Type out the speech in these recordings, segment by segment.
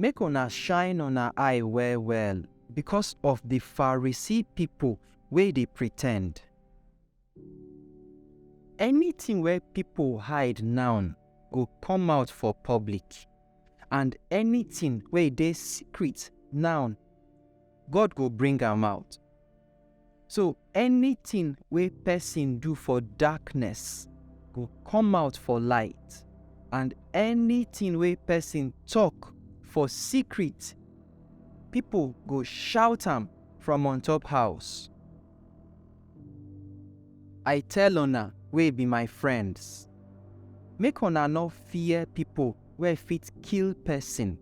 Make una shine una eye well-well becos of di Pharisee pipo wey dey pretend. Anytin wey pipo hide now go come out for public, and anytin wey dey secret now, God go bring am out. So anything wey person do for darkness go come out for light, and anything wey person talk for secret, people go shout am from on top house. I tell una wey be my friends, make una no fear people wey fit kill person,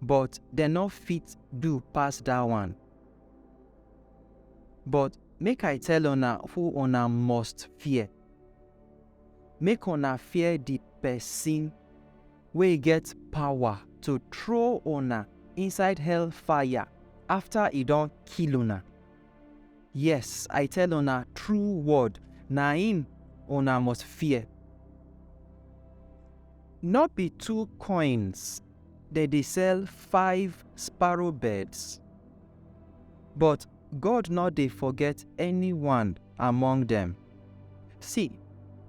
but dem no fit do pass that one. But make I tell una who una must fear. Make una fear di pesin wey get pawa to throw una inside hellfire afta e don kill una. Yes, I tell una true word, na im una must fear. Nor be two koins dem dey sell five sparrow birds. But God no dey forget anyone among dem. See,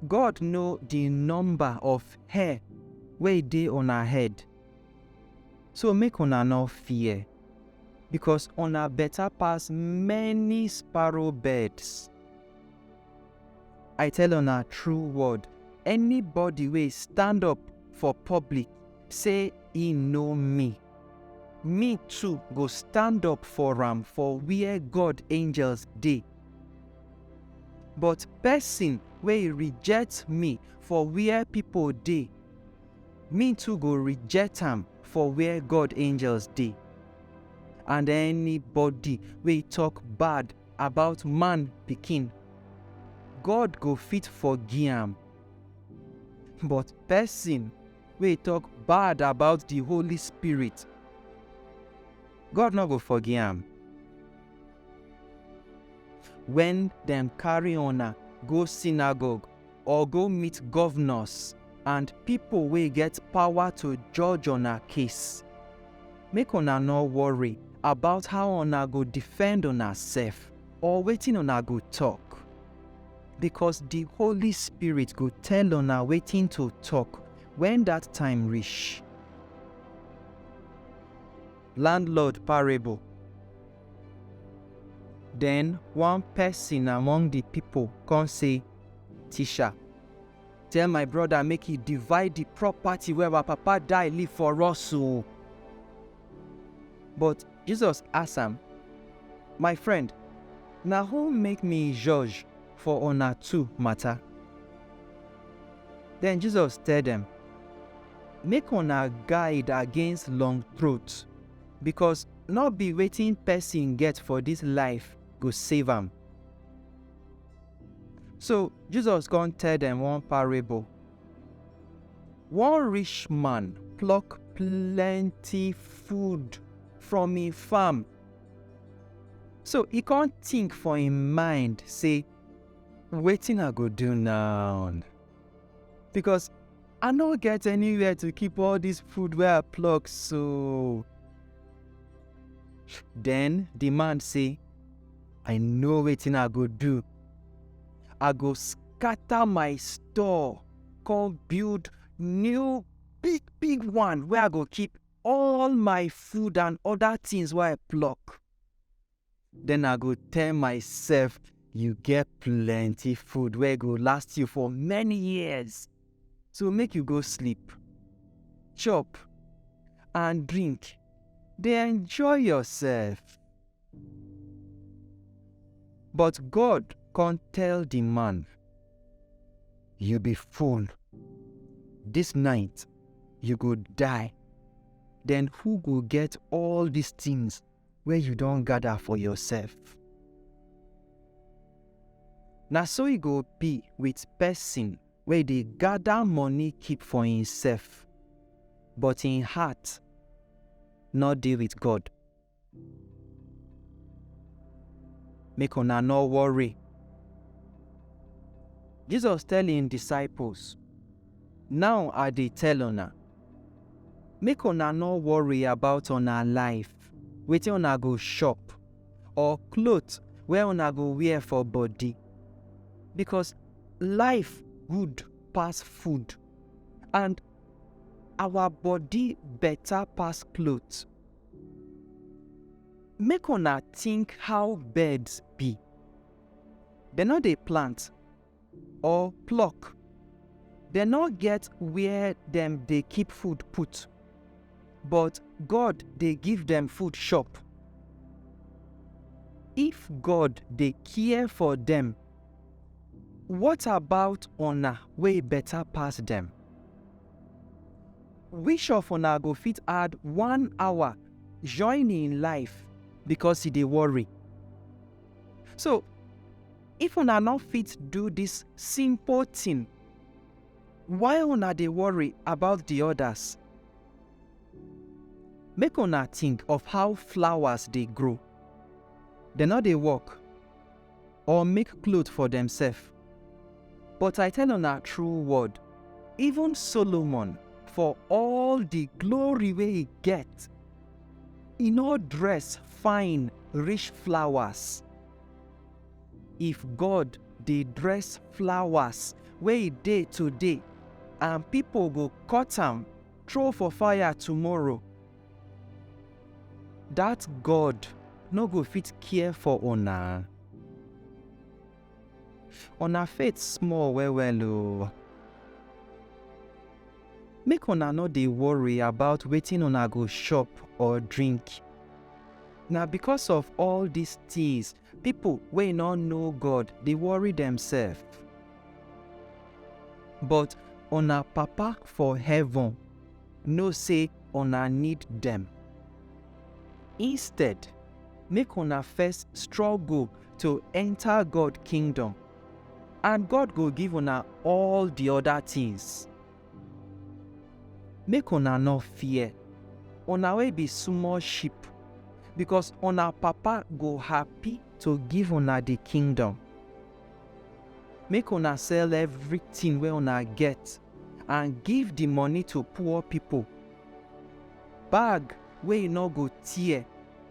God know the number of hair wey dey una head. So make una no fear, because una better pass many sparrow birds. I tell una true word, anybody wey stand up for public say e know me, me too go stand up for am for where God angels dey. But person wey reject me for where people dey, me too go reject am for where God angels dey. And anybody wey talk bad about man pikin, God go fit forgive am. But person wey talk bad about the Holy Spirit, God no go forgive am. When dem carry una go synagogue, or go meet governors and people wey get power to judge una case. Make una no worry about how una go defend una sef or wetin una go talk. Because the Holy Spirit go tell una wetin to talk when that time reach. Landlord parable. Den one pesin among di pipol kon sey, Tisha, tell my broda make e divide di propati wey awa papa die leave for us o. But Jesus ask am, My frend, na who make mi joj for una two mata? Den Jesus tell dem, Make una guide against long-troat. because no be wetin person get for this life go save am. So Jesus come tell them one parable. One rich man pluck plenty food from him farm. So he can't think for him mind say, waiting I go do now? Because I no get anywhere to keep all this food where I pluck so. Then the man say, I know wetin I go do. I go scatter my store, come build new big big one where I go keep all my food and other things where I pluck. Then I go tell myself, you get plenty food where go last you for many years. So make you go sleep, chop, and drink. They enjoy yourself. But God can't tell the man, you be fool. This night you go die. Then who go get all these things wey you don gather for yourself. Na so e go be with person wey dey gather money keep for himself, but him heart no dey with God. Make una no worry. Jesus tell him disciples, Naw I dey tell una, make una nor worry about una life, wetin una go chop, or klot wey una go wear for body, bikos life good pass food, and awa body beta pass klot. Make una tink how birds bi, dem nor dey plant, or pluck. Dem no get where dem dey keep food put, but God dey give dem food chop. If God dey care for dem, what about una wey better pass dem? Which of una go fit add one hour join im life because e dey worry? So, If una no fit do dis simple tin, why una dey worry about di odas? Make una tink of how flowers dey grow. Dem no dey work or make cloth for demsef. But I tell una true word, even Solomon, for all di glory wey e get, e no dress fine reach flowers. If God dey dress flowers wey e dey today and pipo go cut am throw for fire tomorrow, dat God no go fit care for una? Una faith small well-well o! Make una no dey worry about wetin una go chop or drink. Na because of all these things people wey no know God dey worry themselves. But una Papa for heaven know say una need dem. Instead, make una first struggle to enter God kingdom. and God go give una all the other things. Make una no fear, una wey be small sheep, because una Papa go happy to give una the kingdom. Make una sell everything wey una get and give the money to poor people. Bag wey e nor go tear,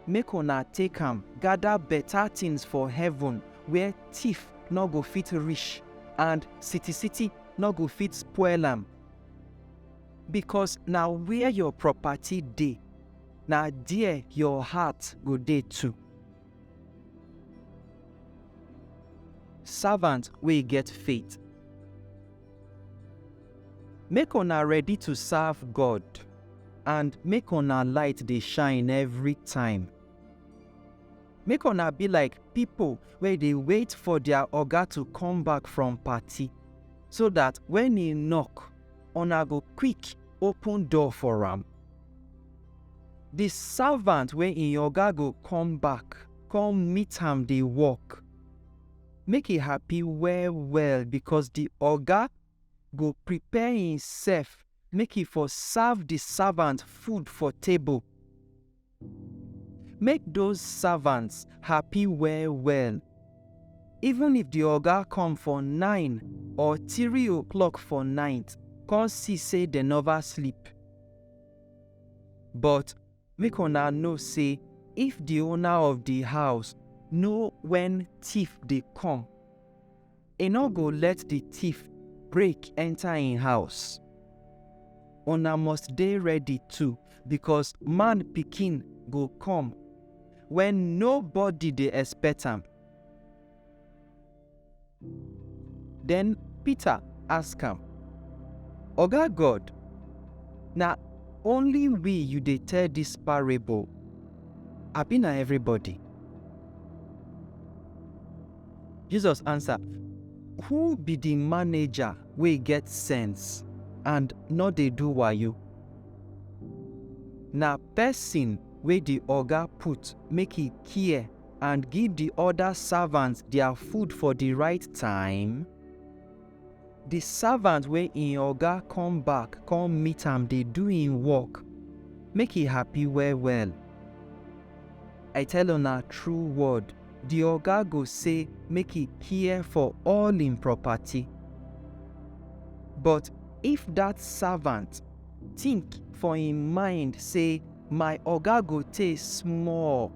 make una take am gada beta tins for heaven, where tiff nor go fit rish, and sitisiti nor go fit spoil am. Bikos na where yor propati dey, na der yor heart go dey too. Savant wey get faith. Make una ready to serve God and make una light dey shine every time. Make una be like people wey dey wait for their oga to come back from party so that when he knock, una go quick open door for am. The servant wey im oga go come back come meet am dey work. make e happy well well because the oga go prepare himself make e for serve the servant food for table. Make those servants happy well well. Even if the oga come for nine or three o'clock for night, come see say dem never sleep. But Make una know sey if di owner of di house know wen tiff dey kom, e nor go let di tiff break enta en house. Una must dey ready too, bikos Man Pikin go kom wen nobody dey expect am. Den Pita ask am, Oga God, na only we yu dey tell dis parable, abi na evribody? Jesus ansa, Who bi di maneja wey get sense and nor dey do wayo? Na pesin wey di oga put make e kia. And give di oda savants dia food for di right time? Di savant wey im oga kom back kon meet am dey do im work, make e happy well-well. I tell una tru word, di oga go sey make e kia for all im propati. But if dat savant tink for im mind sey. My oga go tey small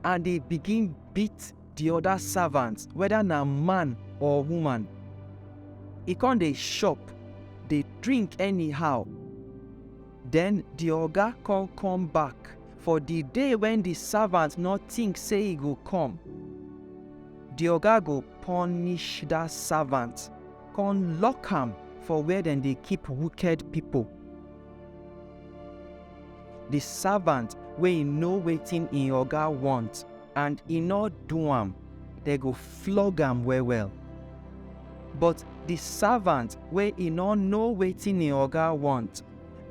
and dey begin beat di oda savants, weda na man or woman. E kon dey shop, dey drink anyhow. Den di oga kon kom back for di day wen di savant nor tink sey e go kom. Di oga go ponish dat savant kon lock am for where dem dey keep wuked pipol. Di savant wey e know wetin im oga wont and e nor do am, dem go flog am well-well. But di savant wey e nor know wetin im oga wont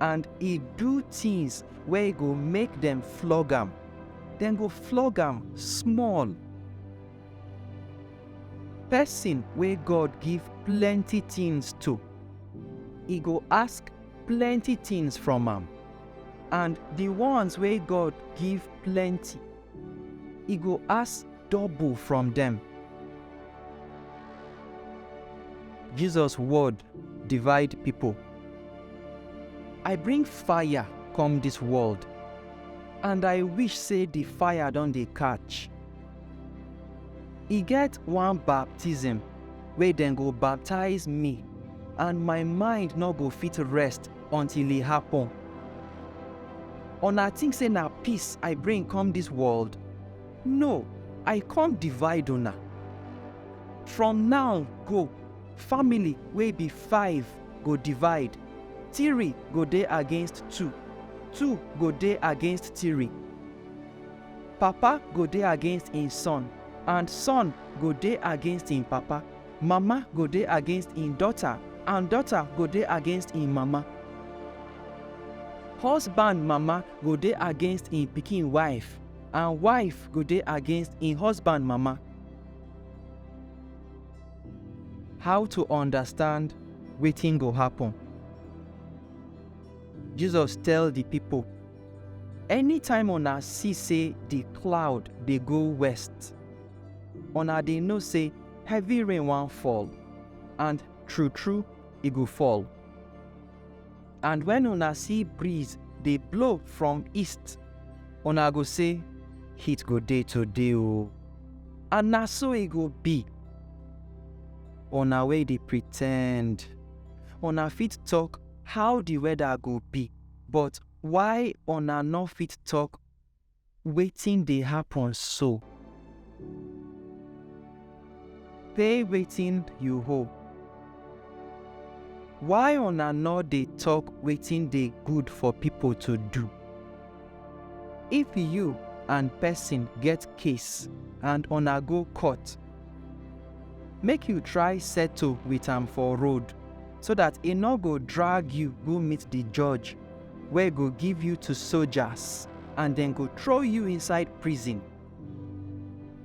and e do tins wey go make dem flog am, dem go flog am small. Pesin wey God give plenty tins to, e go ask plenty tins from am, and di ones wey God give plenty, e go ask double from dem. Jesus word divide pipo. I bring fire come dis world, and I wish sey di fire don dey catch. E get one baptism wey dem go baptize me and my mind no go fit rest until e happen. Una think say na peace I bring come this world? No, I come divide una. From now go, family wey be five go divide, three go dey against two, two go dey against three. Papa go dey against im son, and son go dey against im papa. Mama go dey against im daughter, and daughter go dey against im mama. Husband mama go dey against im pikin wife, and wife go dey against im husband mama. How to understand wetin go happen? Jesus tell di pipo. Anytime una see say di cloud dey go west, una dey know say heavy rain wan fall, and true true e go fall. And when una see breeze dey blow from east, una go say heat go dey today o. And na so e go be. Una wey dey pretend, una fit talk how di weather go be. But why una no fit talk wetin dey happen so? Say wetin you hold. Why una no dey talk wetin dey good for people to do? If you and person get case and una go court, make you try settle with am for road so that e no go drag you go meet the judge wey go give you to soldiers and dem go throw you inside prison.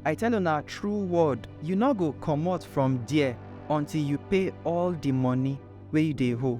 I tell una true word, you no go comot from there until you pay all the money wey you dey owe.